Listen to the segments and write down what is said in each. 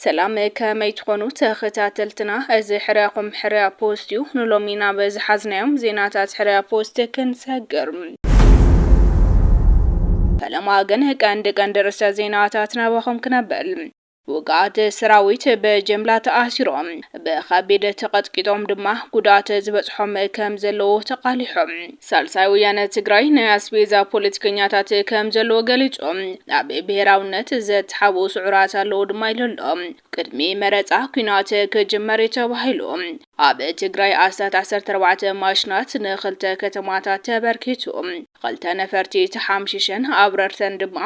ሰላም ከመይ ትኾኑ ተኸታተልትና፣ እዚ ሕርያኹም ሕርያ ፖስት እዩ። ንሎሚ ናብ ዝሓዝናዮም ዜናታት ሕርያ ፖስት ክንሰግር ፈለማ ግን ቀንዲ ቀንዲ ርእሰ ዜናታት ናባኹም ክነብል ውጉኣት ሰራዊት ብጅምላ ተኣሲሮም፣ ብኸቢድ ተቐጥቂጦም ድማ ጉድኣት ዝበጽሖም ከም ዘለዉ ተቓሊሑ። ሳልሳይ ወያነ ትግራይ ናይ ኣስቤዛ ፖለቲከኛታት ከም ዘለዎ ገሊጹ። ኣብ ብሄራውነት ዘተሓብኡ ስዑራት ኣለዉ ድማ ኢሉ ኣሎ። ቅድሚ መረጻ ኲናት ክጅመር እዩ ተባሂሉ። ኣብ ትግራይ ኣስታት ዓሰርተ ኣርባዕተ ማሽናት ንኽልተ ከተማታት ተበርኪቱ ኽልተ ነፈርቲ ተሓምሺሸን ኣብረርተን ድማ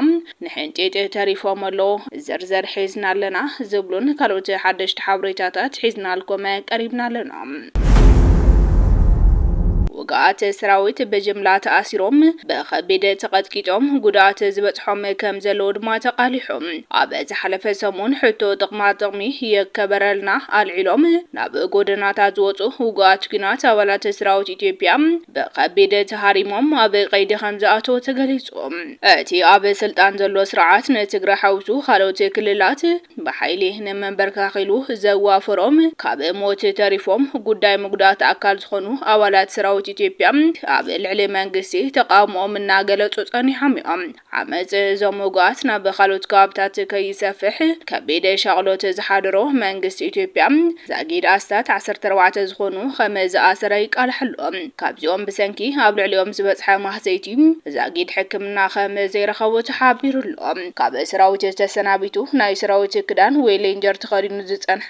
ንሕንጢጥ ተሪፎም ኣለው ዝርዝር ሒዝና ኣለና ዝብሉን ካልኦት ሓደሽቲ ሓብሬታታት ሒዝናልኩም ቀሪብና ኣለና። ውጉኣት ሰራዊት ብጅምላ ተኣሲሮም ብኸቢድ ተቐጥቂጦም ጉድኣት ዝበፅሖም ከምዘለዉ ድማ ተቓሊሑ። ኣብ ዝሓለፈ ሰሙን ሕቶ ጥቕማ ጥቕሚ ይከበረልና ኣልዒሎም ናብ ጎደናታት ዝወጹ ውጉኣት ኲናት ኣባላት ሰራዊት ኢትዮጵያ ብኸቢድ ተሃሪሞም ኣብ ቀይዲ ከምዝኣተው ተገሊጹ። እቲ ኣብ ስልጣን ዘሎ ስርዓት ንትግራይ ሓዊሱ ካልኦት ክልላት ብሓይሊ ንመንበርከኽ ኢሉ ዘዋፈሮም ካብ ሞት ተሪፎም ጉዳይ ምጉዳእቲ ኣካል ዝኾኑ ኣባላት ሰራዊት ኢትዮጵያ ኣብ ልዕሊ መንግስቲ ተቓውሞኦም እናገለጹ ጸኒሖም እዮም። ዓመጽ እዞም ውጉኣት ናብ ካልኦት ከባብታት ከይሰፍሕ ከቢድ ሻቕሎት ዝሓደሮ መንግስቲ ኢትዮጵያ፣ ዛጊድ ኣስታት ዓሰርተ ኣርባዕተ ዝኾኑ ከም ዝኣሰረ ይቃላሕ ኣሎ። ካብዚኦም ብሰንኪ ኣብ ልዕሊኦም ዝበጽሐ ማህሰይቲ ዛጊድ ሕክምና ከም ዘይረኸቡ ተሓቢሩ ኣሎ። ካብ ሰራዊት ተሰናቢቱ ናይ ሰራዊት ክዳን ወይ ሌንጀር ተኸዲኑ ዝጸንሐ፣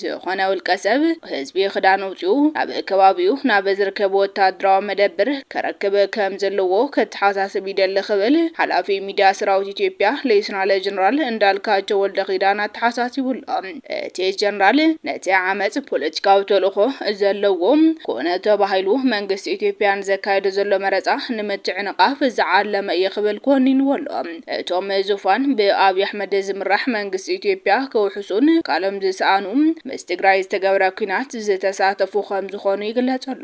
ዝኾነ ውልቀ ሰብ፣ ህዝቢ ክዳን ኣውጺኡ ናብ ከባቢኡ ናብ ዝርከብ ወተሃደራዊ መደብር ከረክብ ከም ዘለዎ ከተሓሳስብ ይደሊ ክብል ሓላፊ ሚድያ ሰራዊት ኢትዮጵያ ሌተናለ ጀነራል እንዳልካቸው ወልደኪዳን ኣተሓሳሲቡ ኣሎ። እቲ ጀነራል ነቲ ዓመጽ ፖለቲካዊ ተልእኾ ዘለዎ ኮነ ተባሂሉ መንግስቲ ኢትዮጵያ ንዘካይዶ ዘሎ መረጻ ንምትዕንቓፍ ዝዓለመ እዩ ክብል ኮኒንዎ ኣሎ። እቶም ዙፋን ብኣብይ ኣሕመድ ዝምራሕ መንግስቲ ኢትዮጵያ ከውሕሱን ቃሎም ዝሰኣኑ ምስ ትግራይ ዝተገብረ ኲናት ዝተሳተፉ ከምዝኾኑ ይግለፅ ኣሎ።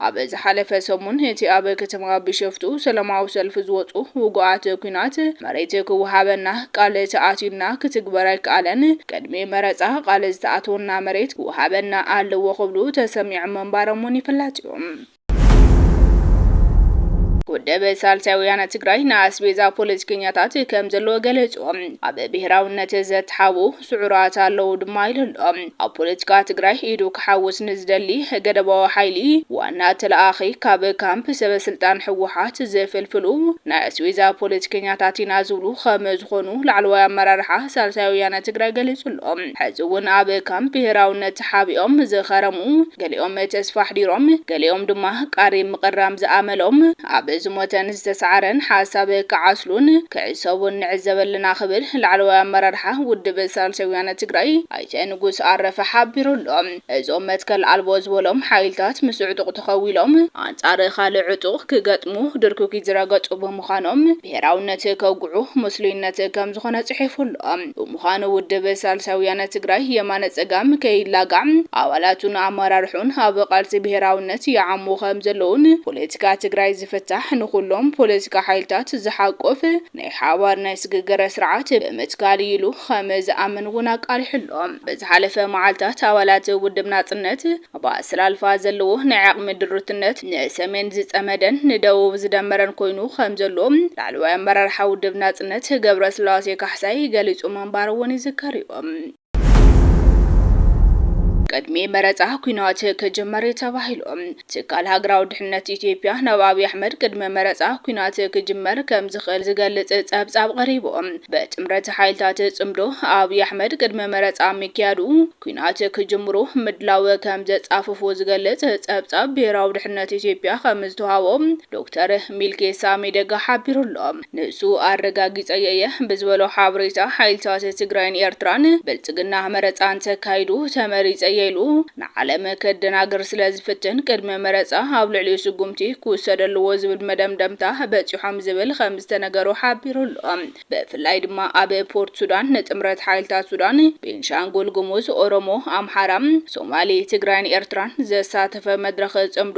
ኣብ ዝሓለፈ ሰሙን እቲ ኣብ ከተማ ቢሸፍቱ ሰላማዊ ሰልፊ ዝወፁ ውጉኣት ኲናት መሬት ክወሃበና ቃል ተኣትዩልና ክትግበር ኣይከኣለን፣ ቅድሚ መረፃ ቃል ዝተኣተወልና መሬት ክወሃበና ኣለዎ ክብሉ ተሰሚዖም ምንባሮም እውን ይፍለጥ እዩ። ውድብ ሳልሳይ ወያነ ትግራይ ንኣስቤዛ ፖለቲከኛታት ከም ዘለዎ ገለጹ። ኣብ ብሄራውነት ዘተሓቡ ስዑራት ኣለዉ ድማ ኢሉ ኣሎ። ኣብ ፖለቲካ ትግራይ ኢዱ ክሓውስ ንዝደሊ ገደባዊ ሓይሊ ዋና ተለኣኺ ካብ ካምፕ ሰበ ስልጣን ህወሓት ዝፍልፍሉ ናይ ኣስቤዛ ፖለቲከኛታት ኢና ዝብሉ ከም ዝኾኑ ላዕለዋይ ኣመራርሓ ሳልሳይ ወያነ ትግራይ ገሊጹ ኣሎ። ሕዚ እውን ኣብ ካምፕ ብሄራውነት ተሓቢኦም ዝኸረሙ፣ ገሊኦም ተስፋ ኣሕዲሮም፣ ገሊኦም ድማ ቃሪም ምቕራም ዝኣመሎም፣ ኣብ ዝሞተን ዝተሳዕረን ሓሳብ ክዓስሉን ክዕሰቡን ንዕዘብ ኣለና ክብል ላዕለዋይ ኣመራርሓ ውድብ ሳልሳይ ወያነ ትግራይ ኣይተ ንጉስ ኣረፈ ሓቢሩ ኣሎ። እዞም መትከል ኣልቦ ዝበሎም ሓይልታት ምስ ዕጡቕ ተኸዊሎም ኣንፃር ካልእ ዕጡቕ ክገጥሙ ድርኩኪት ዝረገፁ ብምዃኖም ብሄራውነት ከውግዑ ምስሉይነት ከምዝኾነ ፅሒፉ ኣሎ። ብምዃኑ ውድብ ሳልሳይ ወያነ ትግራይ፣ የማነ ፀጋም፣ ከይላጋዕ ኣባላቱን ኣመራርሕኡን ኣብ ቃልሲ ብሄራዊነት ይዓሙ ከምዘለዉን ፖለቲካ ትግራይ ዝፍታሕ ንኹሎም ፖለቲካ ሓይልታት ዝሓቁፍ ናይ ሓባር ናይ ስግግር ስርዓት ብምትካል እዩ ኢሉ ከምዝኣምን እውን ኣቃሊሑ ኣሎ። ብዝሓለፈ መዓልታት ኣባላት ውድብ ናፅነት ኣብ ኣሰላልፋ ዘለዎ ናይ ዓቕሚ ድሩትነት ንሰሜን ዝጸመደን ንደቡብ ዝደመረን ኮይኑ ከም ዘሎ ላዕለዋይ ኣመራርሓ ውድብ ናጽነት ገብረስላሴ ካሕሳይ ገሊጹ ምንባሩ እውን ይዝከር'ዩ። ቅድሚ መረጻ ኲናት ክጅመር'ዩ ተባሂሉ። ትካል ሃገራዊ ድሕነት ኢትዮጵያ ናብ ኣብይ ኣሕመድ ቅድሚ መረጻ ኲናት ክጅመር ከም ዝኽእል ዝገልጽ ጸብጻብ ቀሪቡ። ብጥምረት ሓይልታት ጽምዶ ኣብይ ኣሕመድ ቅድሚ መረጻ ምክያዱ ኲናት ክጅምሩ ምድላው ከምዘጻፈፉ ዝገልጽ ጸብጻብ ብሄራዊ ድሕነት ኢትዮጵያ ከምዝተውሃቦ ዶክተር ሚልኬሳ ሚደጋ ሓቢሩ'ሎ። ንሱ ኣረጋጊጸዮ እየ ብዝበሎ ሓበሬታ ሓይልታት ትግራይን ኤርትራን ብልጽግና መረጻ እንተካይዱ ተመሪጸ እየ ኢሉ ንዓለም ከደናግር ስለዝፍትን ቅድሚ መረጻ ኣብ ልዕሊኡ ስጉምቲ ክውሰድ ኣለዎ ዝብል መደምደምታ በጺሖም ዝብል ከምዝተነገሮ ሓቢሩ'ሎ። ብፍላይ ድማ ኣብ ፖርት ሱዳን ንጥምረት ሓይልታት ሱዳን፣ ቤንሻንጉል ጉሙዝ፣ ኦሮሞ፣ ኣምሓራ፣ ሶማሌ፣ ትግራይን ኤርትራን ዘሳተፈ መድረኽ ፅምዶ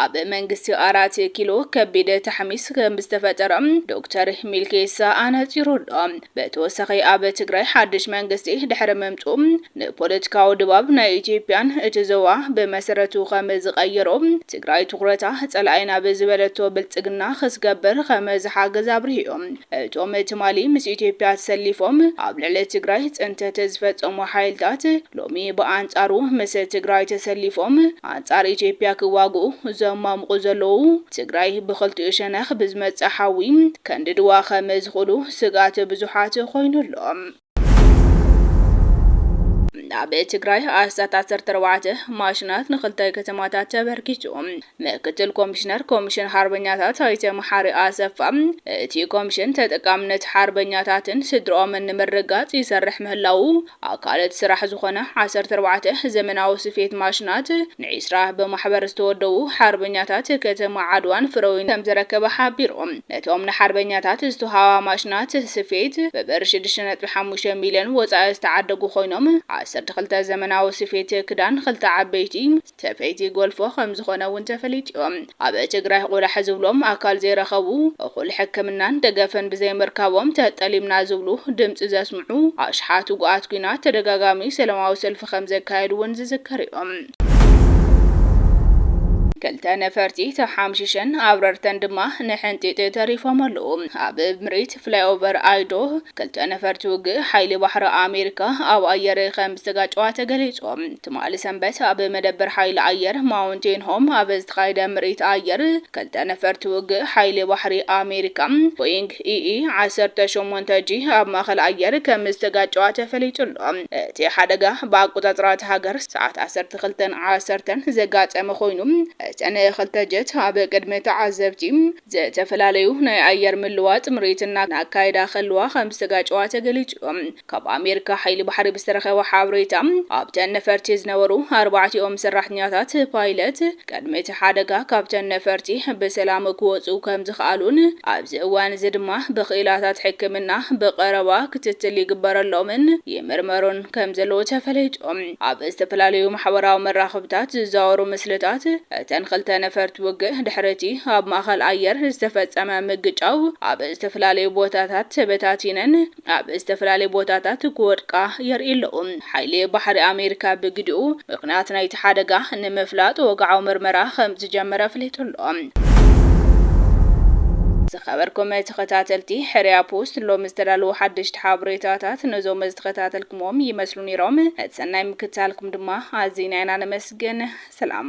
ኣብ መንግስቲ ኣራት ኪሎ ከቢድ ታሕሚስ ከምዝተፈጠረ ዶክተር ሚልኬሳ ኣነፂሩ ኣሎ። ብተወሳኺ ኣብ ትግራይ ሓድሽ መንግስቲ ድሕሪ ምምፅኡ ንፖለቲካዊ ድባብ ናይ ኢትዮጵያን እቲ ዞባ ብመሰረቱ ከምዝቐየሮ ትግራይ ትኹረታ ፀላኢና ብዝበለቶ ብልፅግና ክስገብር ከምዝሓገዝ ኣብሪሁ። እቶም ትማሊ ምስ ኢትዮጵያ ተሰሊፎም ኣብ ልዕሊ ትግራይ ፅንተት ዝፈፀሙ ሓይልታት ሎሚ ብኣንፃሩ ምስ ትግራይ ተሰሊፎም ኣንፃር ኢትዮጵያ ክዋግኡ ዘሟሙቑ ዘለዉ ትግራይ ብኽልቲኡ ሸነኽ ብዝመፅእ ሓዊ ከንድድዋ ከም ዝኽእሉ ስግኣት ብዙሓት ኾይኑ ኣሎ። ኣብ ትግራይ ኣስታት ዓሰርተ ኣርባዕተ ማሽናት ንኽልተ ከተማታት ተበርኪቱ። ምክትል ኮሚሽነር ኮሚሽን ሓርበኛታት ኣይተ መሓሪ ኣሰፋ እቲ ኮሚሽን ተጠቃምነት ሓርበኛታትን ስድሮኦምን ንምርግጋፅ ይሰርሕ ምህላዉ ኣካለት ስራሕ ዝኾነ ዓሰርተ ኣርባዕተ ዘመናዊ ስፌት ማሽናት ንዒስራ ብማሕበር ዝተወደቡ ሓርበኛታት ከተማ ዓድዋን ፍረዊን ከምዝረከበ ሓቢሮም። ነቶም ንሓርበኛታት ዝተውሃባ ማሽናት ስፌት ብብር ሽዱሽተ ነጥቢ ሓሙሽተ ሚልዮን ወፃኢ ዝተዓደጉ ኮይኖም ዓሰርተ ክልተ ዘመናዊ ስፌት ክዳን ክልተ ዓበይቲ ሰፈይቲ ጎልፎ ከምዝኾነ እውን ተፈሊጡ ዩ። ኣብ ትግራይ ቁላሕ ዝብሎም ኣካል ዘይረኸቡ፣ እኹል ሕክምናን ደገፍን ብዘይምርካቦም ተጠሊምና ዝብሉ ድምፂ ዘስምዑ ኣሽሓት ውጉኣት ኲናት ተደጋጋሚ ሰለማዊ ሰልፊ ከምዘካየዱ እውን ዝዝከር ዩ። ክልተ ነፈርቲ ተሓምሺሸን ኣብረርተን ድማ ንሕንጢጥ ተሪፎም ኣለዉ። ኣብ ምርኢት ፍላይኦቨር ኣይዶ፣ ክልተ ነፈርቲ ውግእ ሓይሊ ባሕሪ ኣሜሪካ ኣብ ኣየር ከምዝተጋጨዋ ተገሊጹ። ትማሊ ሰንበት ኣብ መደበር ሓይሊ ኣየር ማውንቴን ሆም ኣብ ዝተኻየደ ምርኢት ኣየር፣ ክልተ ነፈርቲ ውግእ ሓይሊ ባሕሪ ኣሜሪካ ቦይንግ ቲኢኢ ዓሰርተ ሸሞንተ ጂ ኣብ ማእኸል ኣየር ከም ዝተጋጨዋ ተፈሊጡ ኣሎ። እቲ ሓደጋ ብኣቆፃፅራ እታ ሃገር ሰዓት ዓሰርተ ክልተን ዓሰርተን ዘጋጠመ ኮይኑ እተን ክልተ ጀት ኣብ ቅድሚ ተዓዘብቲ ዝተፈላለዩ ናይ ኣየር ምልዋጥ ምርኢት እናካየዳ ከለዋ ከም ዝተጋጨዋ ተገሊፁ እዩ። ካብ ኣሜሪካ ሓይሊ ባሕሪ ብዝተረኸበ ሓበሬታ፣ ኣብተን ነፈርቲ ዝነበሩ ኣርባዕቲኦም ሰራሕተኛታት፣ ፓይለት፣ ቅድሚ እቲ ሓደጋ ካብተን ነፈርቲ ብሰላም ክወጽኡ ከምዝኸኣሉን ኣብዚ እዋን'ዚ ድማ ብክኢላታት ሕክምና ብቐረባ ክትትል ይግበረሎምን ይምርመሩን ከምዘለዉ ተፈሊጡ። ኣብ ዝተፈላለዩ ማሕበራዊ መራኸብታት ዝዛወሩ ምስልታት እተን ክልተ ነፈርቲ ውግእ ድሕሪ'ቲ ኣብ ማእኸል ኣየር ዝተፈጸመ ምግጫው ኣብ ዝተፈላለዩ ቦታታት ተበታቲነን ኣብ ዝተፈላለዩ ቦታታት ክወድቃ የርእዩ ኣለዉ። ሓይሊ ባሕሪ ኣሜሪካ ብግዲኡ፣ ምኽንያት ናይቲ ሓደጋ ንምፍላጥ ወግዓዊ ምርመራ ከምዝጀመረ ኣፍሊጡ ኣሎ። ዝኸበርኩም ተኸታተልቲ ሕርያ ፖስት፣ ሎሚ ዝተዳለዉ ሓደሽቲ ሓበሬታታት ነዞም ዝተኸታተልኩምዎም ይመስሉ ነይሮም። ነቲ ሰናይ ምክትታልኩም ድማ ኣዚና ኢና ነመስግን። ሰላም!